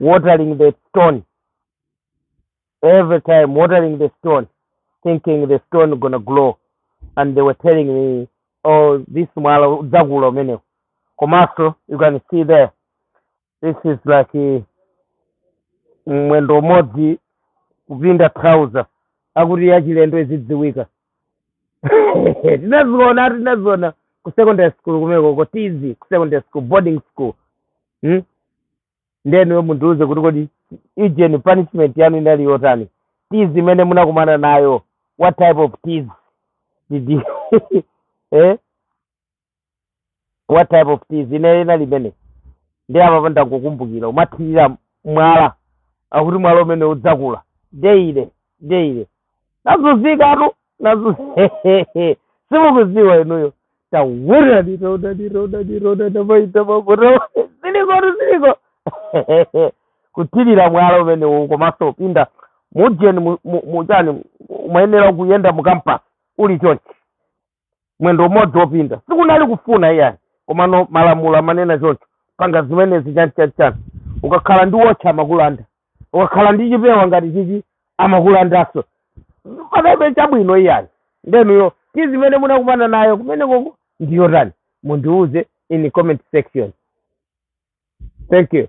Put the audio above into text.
watering the stone every time watering the stone thinking the stone gonna grow and they were telling me oh this mwala udzakula umenewo komanso you can see there this is like eh, mwendo umodzi kupinda trouser akuti wachilendo azidziwika tinaziona tinaziona ku secondary school kumenekoko tizi ku secondary school boarding school hmm? nde inuyo mundiuze kuti kodi ijeni punishment yanu inali yotani tizi imene munakumana nayo what type of tizi did you eh? what type of tizi inali imene ndi apa ndangokumbukira umathirira mwala akuti mwala umene udzakula deile deile nazunzikatu nazu simukudziwa inuyo tawona nirona nirona nirona namaita makono zilikotu ziliko kuthirira mwala umenewu komanso upinda mujeni mu- mu- muchani umayenera kuyenda mukampasi uli chonchi mwendo umodzi wopinda sikunali kufuna iyayi komano malamulo amanena choncho panga zimenezi chani chani chani ukakhala ndi wotchi amakulanda ukakhala ndi chipewa ngati chichi amakulandanso pakabe chabwino iyayi nde inuyo tizi imene munakumana nayo kumenekoko ndi yotani mundiuze in comment section thank you